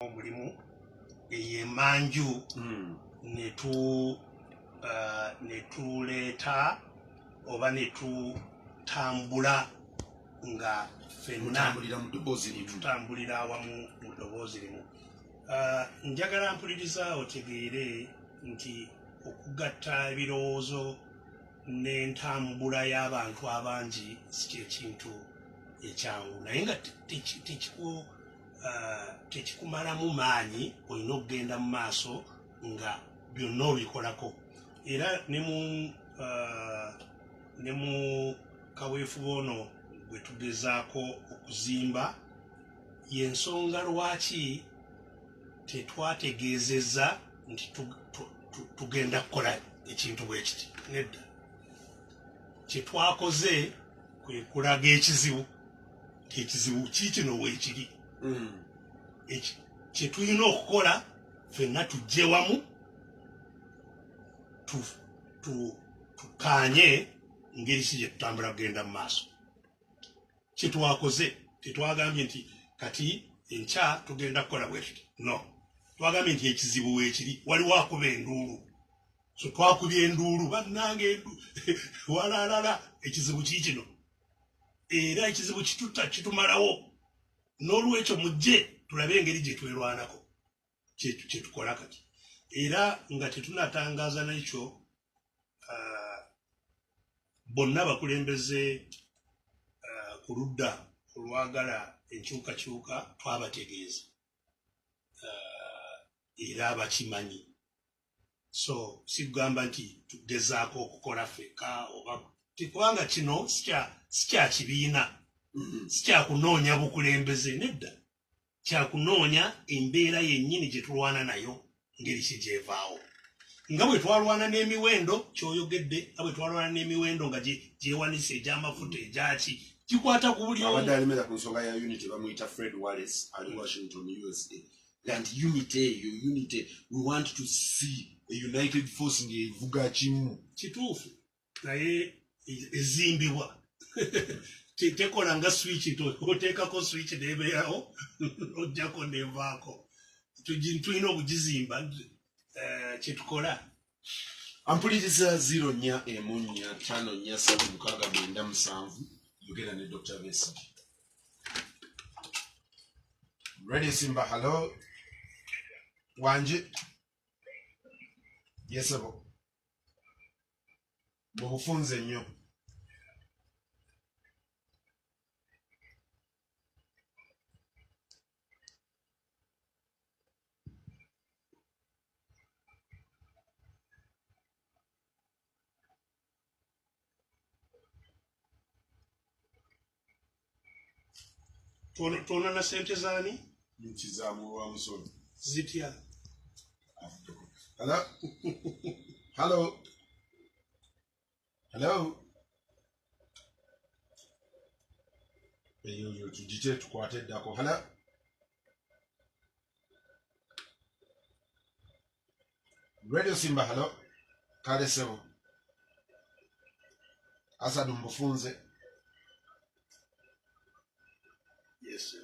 omulimu eyo emanju hmm. netu uh, netuleeta oba netutambula nga fennatutambulira awamu mu ddoboozi limu uh, njagala mpuliriza otegeere nti okugatta ebirowoozo n'entambula y'abantu abangi si kyekintu ekyangu naye nga tekiku uh, tekikumalamu maanyi olina okugenda mu maaso nga byonna obikolako era ne mu uh, ne mu kaweefube ono gwe tugezaako okuzimba yensonga lwaki tetwategeezeza nti tugenda kukola ekintu bwe kiti nedda kyetwakoze kwe kulaga ekizibu kyekizibu kikino wekiri mm. kyetulina okukola fenna tujje wamu tukanye ngeri si gyetutambula kugenda mu maaso kyetwakoze tetwagambye nti kati enkya tugenda kukola bwetuti no twagambye nti ekizibu wekiri waliwo akuba enduulu so twakubye enduulu bannange walaalala ekizibu kikino era ekizibu kitutta kitumalawo n'olwekyo mujje tulabe engeri gye twerwanako kyetukola kati era nga tetunatangaza nekyo ah, bonna bakulembeze ah, ku ludda olwagala enkyukakyuka twabategeeza ah, era bakimanyi so sikugamba nti tugezaako okukola feka oba kubanga kino sikyakibiina mm-hmm. sikyakunoonya bukulembeze nedda kyakunoonya embeera yennyini gye tulwana nayo ngeri ki gyevaawo nga bwe twalwana n'emiwendo kyoyogedde nga bwe twalwana n'emiwendo nga gyewanise egy'amafuta egyaki kikwata ku buli abadde alemera ku nsonga ya unity bamuyita fred wallis ali washington usa and unity eyo unity we want to see a united force ngevuga kimu kituufu naye ezimbibwa tekola nga switch to oteekako switch nebeerawo ojjako nevaako tulina okugizimba eh, kyetukola ampuliriza zero nnya emu nnya ttaano nnya ssatu mukaaga mwenda musanvu yogera ne dr besi ready simba halo wanje yesebo mu bufunze nnyo tona na sente zani nkizamuwamusoni zitya Hello. Hello. hello eyo yo tugite tukwate eddako hello radio simba hello kale sebo asadu mbufunze yes sir.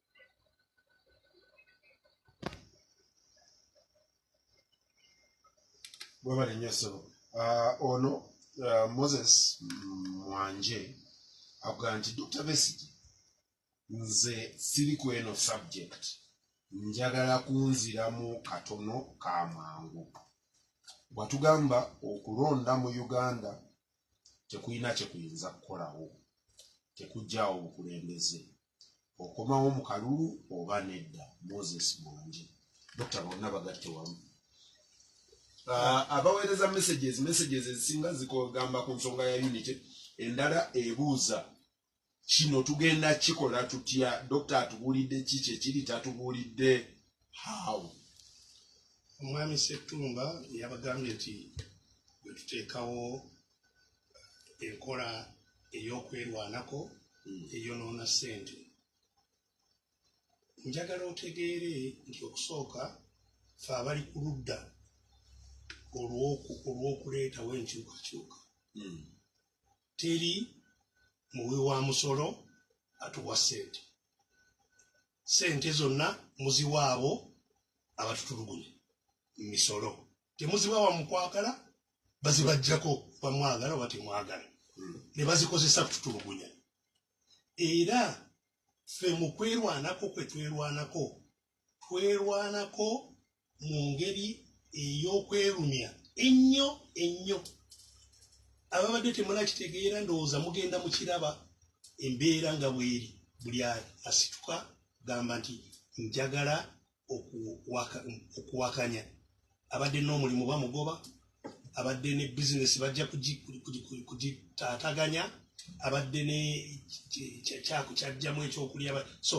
webale nnyo ssebo Ah, ono ah, moses mwanje avuga nti dr besigi nze siri ku eno subject njagala kunziramu katono ka mangu watugamba okulonda mu uganda tekulina kyekuyinza kukolawo tekujjaawo bukulembeze okomawo mu kalulu oba nedda moses mwangi dokita bonna bagatte wamu ah, abaweereza messages messages ezisinga zigamba ku nsonga ya unity endala ebuuza kino tugenda kikola tutya dokita atubuulidde ki kyekiri tatubuulidde how omwami settumba yabagambye nti bwetuteekawo enkola ey'okwerwanako hmm. eyonoona ssente njagala otegeere nti okusooka fe abali ku ludda olw'okuleetawo enkyukakyuka hmm. teri muwi wa musolo atuwa ssente ssente zonna muziwaabo abatutulugunya mu misolo temuzibawa mukwagala bazibajjako bamwagala oba temwagala hmm. ne bazikozesa kututulugunya era ffe mu kwerwanako kwe twerwanako twerwanako mu ngeri ey'okwerumya ennyo ennyo ababadde temunakitegeera ndowooza mugenda mu kiraba embeera nga bweri buli asituka gamba nti njagala okuwakanya abadde n'omulimu bamugoba abadde ne bizinesi bajja kugitaataganya abadde ne kyaku kyajjamu ekyokulya so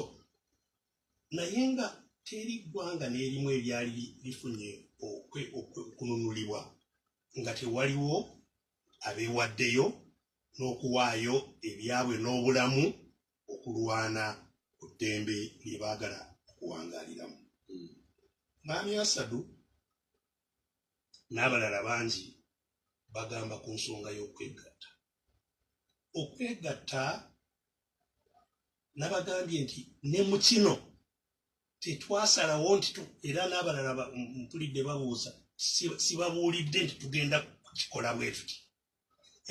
naye nga teri ggwanga n'erimu ebyali lifunye okununulibwa nga tewaliwo abeewaddeyo n'okuwaayo ebyabwe n'obulamu okulwana ku ddembe lye baagala okuwangaaliramu hmm. maami asadu n'abalala bangi bagamba ku nsonga y'okwegatta okwegatta nabagambye nti ne mu kino tetwasalawo nti era n'abalala mpulidde babuuza sibabuulidde nti tugenda kukikola bwetuti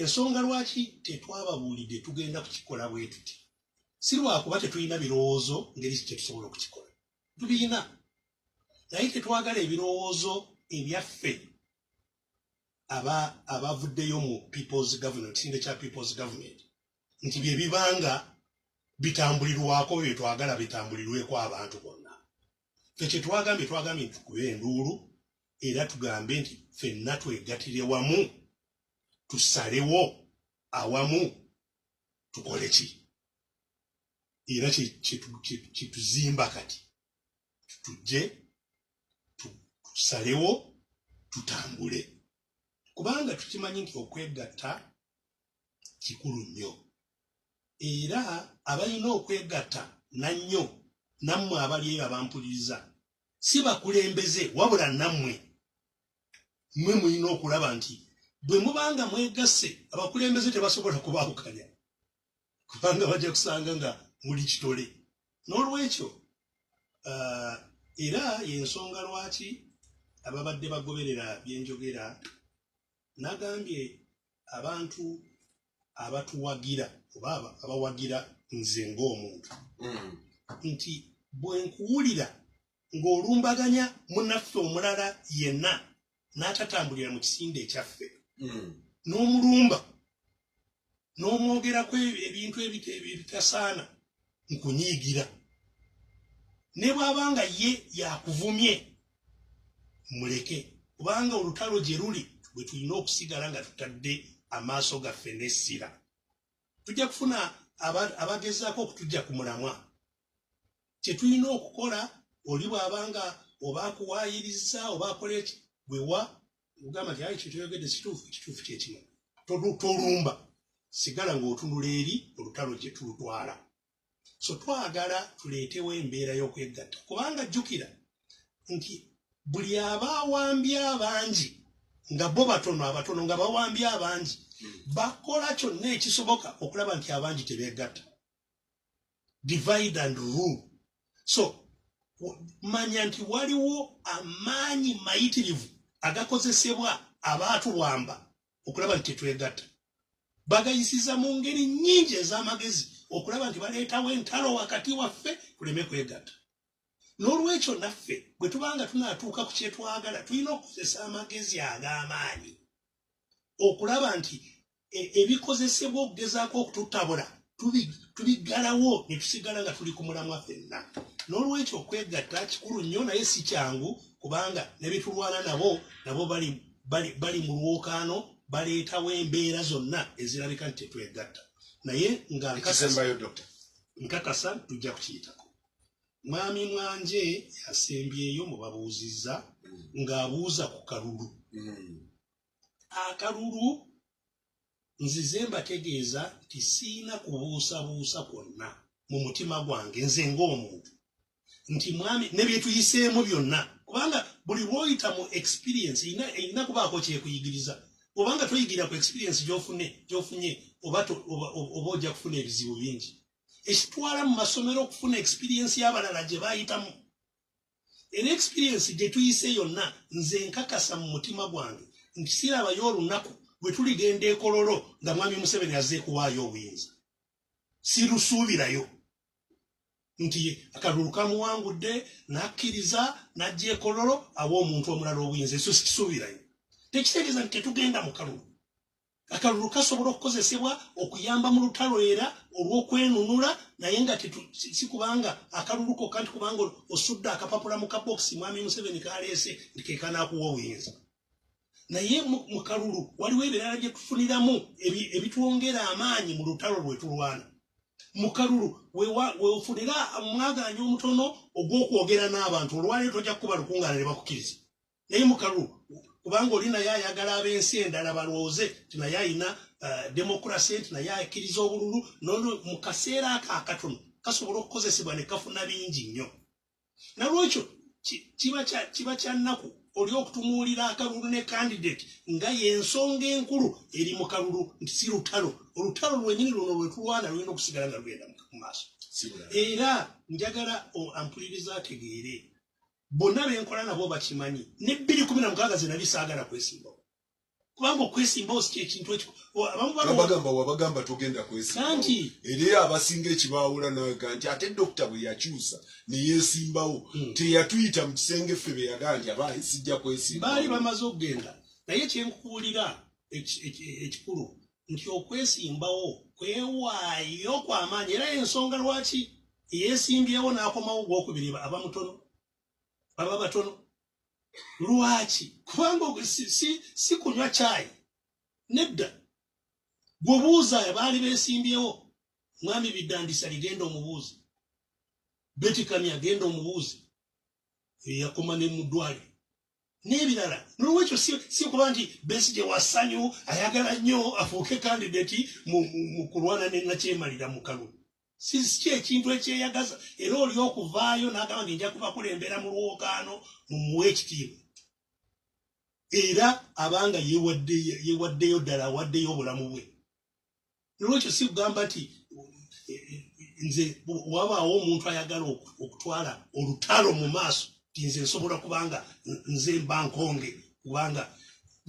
ensonga lwaki tetwababuulidde tugenda kukikola bwe tuti si lwakuba tetulina birowoozo ngeri ki kyetusobola okukikola tubirina naye tetwagala ebirowoozo ebyaffe aba abavuddeyo mu peoples government kisinde kya peoples government nti bye bibanga bitambulirwako bye twagala bitambulirweko abantu bonna fe kyetwagambye twagambye nti tukube enduulu era tugambe nti fenna twegatire wamu tusalewo awamu tukole ki era kyetuzimba kati tujje tusalewo tutambule kubanga tukimanyi nti okwegatta kikulu nnyo era abalina okwegatta nannyo nammwe abali eyo abampuliriza si bakulembeze wabula nammwe mwe mulina okulaba nti bwe mubanga mwegasse abakulembeze tebasobola kubaawukanya kubanga bajja kusanga nga muli kitole n'olwekyo uh, era yensonga lwaki ababadde bagoberera byenjogera nagambye abantu abatuwagira oba abawagira nze ng'omuntu mm. nti bwe nkuwulira ng'olumbaganya munaffe omulala yenna n'atatambulira mu kisinde ekyaffe mm. n'omulumba n'omwogerako ebintu ebitasaana nkunyiigira ne bw'aba nga ye yakuvumye muleke kubanga olutalo gye luli bwe tulina okusigala nga tutadde amaaso gaffe n'essira tujja kufuna abagezaako okutujja ku mulamwa kye tulina okukola oli bw'aba nga oba akuwaayiriza oba akola eki wewa ogamba nti ayi kyekyoyogedde situufu ekituufu kyekimu tolumba sigala ng'otunula eri olutalo gye tulutwala so twagala tuleetewo embeera y'okwegatta kubanga jjukira nti buli aba awambi abangi nga bo batono abatono nga bawambi abangi bakola kyonna ekisoboka okulaba nti abangi tebeegatta divide and rule so manya nti waliwo amaanyi mayitirivu agakozesebwa abantu bwamba okulaba nti tetwegatta bagayisiza mu ngeri nyingi ez'amagezi okulaba nti baleetawo entalo wakati waffe tuleme kwegatta n'olwekyo naffe bwe tubanga tunatuuka ku kyetwagala tulina okukozesa amagezi ag'amaanyi okulaba nti e, ebikozesebwa okugezaako okututabula tubiggalawo ne tusigala nga tuli ku mulamwa fenna n'olwekyo okwegatta kikulu nnyo naye si kyangu kubanga ne bitulwana nabo nabo bali, bali, bali mu lwokaano baleetawo embeera zonna ezirabika nti tetwegatta naye nga nkakasa tujja kukiyitako Mwami Mwanje yasembyeyo mu babuuzizza ng'abuuza ku kalulu. Akalulu nzize mbategeeza nti siina kubuusabuusa kwonna mu mutima gwange nze ng'omuntu nti mwami ne bye tuyiseemu byonna kubanga buli lwoyita mu experience erina kubaako kyekuyigiriza obanga toyigira ku experience gyofune gyofunye oba oba ojja kufuna ebizibu bingi ekitwala mu masomero okufuna experience y'abalala gye bayitamu era experience gye tuyise yonna nze nkakasa mu mutima gwange nti sirabayo olunaku bwe tuligenda ekololo nga mwami museveni azze kuwaayo obuyinza sirusuubirayo nti akalulu kamuwangudde n'akkiriza n'ajja ekololo awa omuntu omulala obuyinza eso sikisuubirayo tekitegeeza nti tetugenda mu kalulu akalulu kasobola okukozesebwa okuyamba mu lutalo era olw'okwenunula naye nga si kubanga akalulu kokka nti kubanga osudde akapapula mu kabokisi mwami museveni kaleese nti kekanakuwa obuyinza naye mu kalulu waliwo ebirala bye tufuniramu ebitwongera amaanyi mu lutalo lwe tulwana mu kalulu weofunira mwagaanya omutono ogw'okwogera n'abantu olwaleero tojja kukuba lukungaana ne bakukkiriza naye mukalu kubanga oli naye ayagala ab'ensi endala balwooze nti naye alina uh, demokrasi nti naye akkiriza obululu nono mu kaseera ako akatono kasobola okukozesebwa ne kafuna bingi nnyo nalwekyo kiba kya nnaku oli okutumuulira akalulu ne kandidate nga y'ensonga enkulu eri mu kalulu nti si lutalo olutalo lwenyini luno lwetulwana lulina okusigala nga lugenda mu maaso era njagala ampuliriza ategeere bonna benkola nabo bakimanyi ne bbiri kumi na mukaaga ze nali saagala kwesimbawo kubanga okwesimbawo si kyekintu ekibagamba wabagamba togenda kwesimbawoanti era abasinga ekibaawula naga nti ate dokita bwe yakyusa neyesimbawo hmm. teyatuyita mu kisenge ffe beyagaa nti aba sijja kwesimba baali bamaze okugenda naye kyenkukuulira ekikulu nti okwesimbawo kwewaayo kwamaanyi era ensonga lwaki eyesimbyewo n'akomawo gwokubiri aba mutono baba batono lwaki kubanga si kunywa kyayi nedda gwobuuza baali besimbyewo mwami biddandisa ligenda omubuuzi betikamya agenda omubuuzi eyakoma ne mudwali n'ebirala nolwekyo si kuba nti besi gye wasanyu ayagala nnyo afuuke kandidati mu kulwana ne nakyemalira mu kalulu sisiki ekintu ekyeyagaza era oli okuvaayo n'agamba nti nja kubakulembera mu lwokaano mumuwa ekitiibwa era abanga yewaddeyo ddala awaddeyo obulamu bwe nolwekyo si kugamba nti nze wabaawo omuntu ayagala okutwala olutalo mu maaso ti nze nsobola kubanga nze mba nkonge kubanga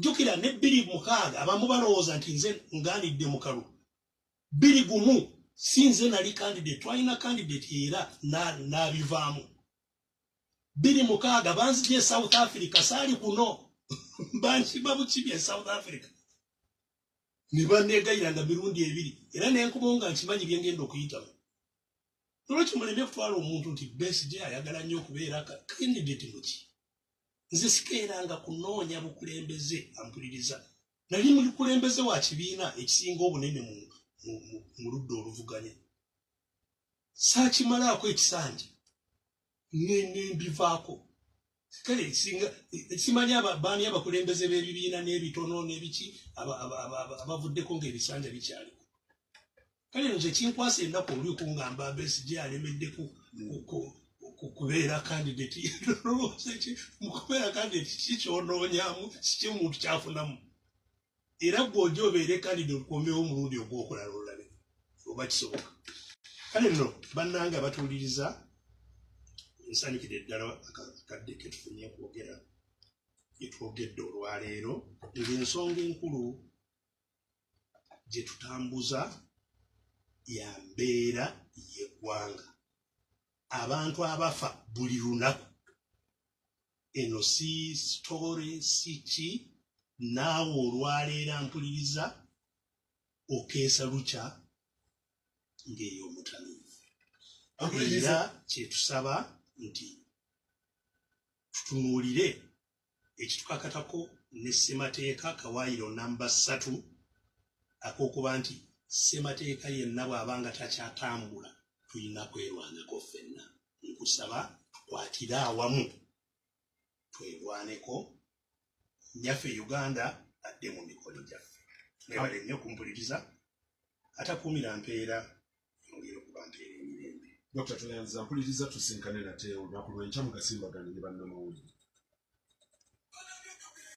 jukira ne bbiri mukaaga abamu balowooza nti nze nganidde mukalu bbiri gumu si nze nali kandidate twalina kandidate era nabivaamu bbiri mukaaga banzija e south africa saali kuno bankiba bukibi e south africa ne banneegayiranga mirundi ebiri era ne nkomawo nga nkimanyi bye ngenda okuyitamu nolwekyo muleme kutwala omuntu nti besige ayagala nnyo okubeera kandidate muki nze sikeeranga kunoonya bukulembeze ampuliriza nali mukulembeze wa kibiina ekisinga obunene mu ludda oluvuganya saakimalaako ekisanja nembivaako kale singa simanyi baani abakulembeze b'ebibiina n'ebitono n'ebiki abavuddeko ng'ebisanja bikyali kale nze kinkwasa ennaku oli okungamba mbesi gye alemeddeko kubeera kandidati mukubeera kandidati kikyonoonyamu sikye muntu kyafunamu era gwe oja obeere kandida olukombewo omulundi ogwokulala olulabe oba kisoboka kale no bannange abatuuliriza nsanyukide ddala akadde ketufunye kwogera gyetwogedde olwaleero ngaensonga enkulu gyetutambuza ya mbeera yeggwanga abantu abafa buli lunaku eno si story si ki naawe olwaleero ampuliriza okeesa lukya ng'eyo omutano era kyetusaba nti tutunuulire ekitukakatako ne ssemateeka kawaayiro namba ssatu ak'okuba nti ssemateeka yenna bw'aba nga takyatambula tulina kwerwanako ffenna nkusaba tukwatire awamu twegwaneko nyaffe uganda adde mu mikono gyaffe nebale nnyo kumpuliriza atakuumira mpeera yongere okuba mpeera emirembe dokita tuyanza mpuliriza tusinkane nate olunaku lwenkya mugasimbagane ne bannamawulire